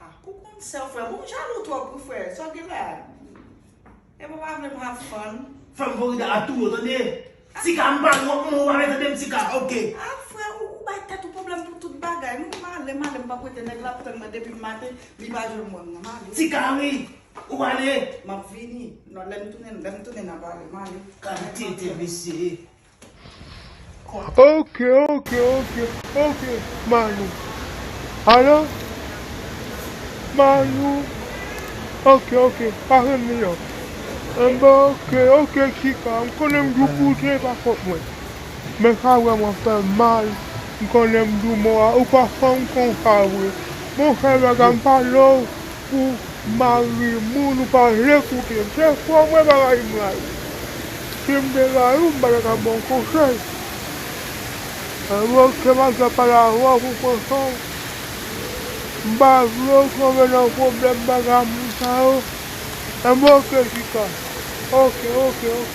Ah pou konn sèw frè bon ou jalou trop wi frè sa wap gen la Epa pa vlem have fun. Fanm Florida a tou yo tande. Tika m pa wont non ou pa vle tande m tika ok. Ah frè ou bay tèt ou pwoblèm pou tout bagay wi male male m pap wete nèg la ap tann mwen depim maten li pa jwenn mwen mwen male. Tika wi ou pale. Map vini nan lèm tounen lèm tounen na pale male. Gade tenten mesye. Ok ok ok ok manou alo manou ok ok pa fèm ri non anben ok ok chika m konnen m dou pou zen pa fòt mwen men sa vrèman fèm mal m konnen m dou mò a ou pa fanm konsa vre bon fè bagay m pa love. Pou mari moun ou pa vle koute m se fo mwen pa rayi mari m si m te rayi w m pa ta ka ba w konsèy alon ke mari w ta pale avè w pou pransan w m pa vle w tonbe nan pwoblèm bagay moun sa yo m ok chita ok ok ok.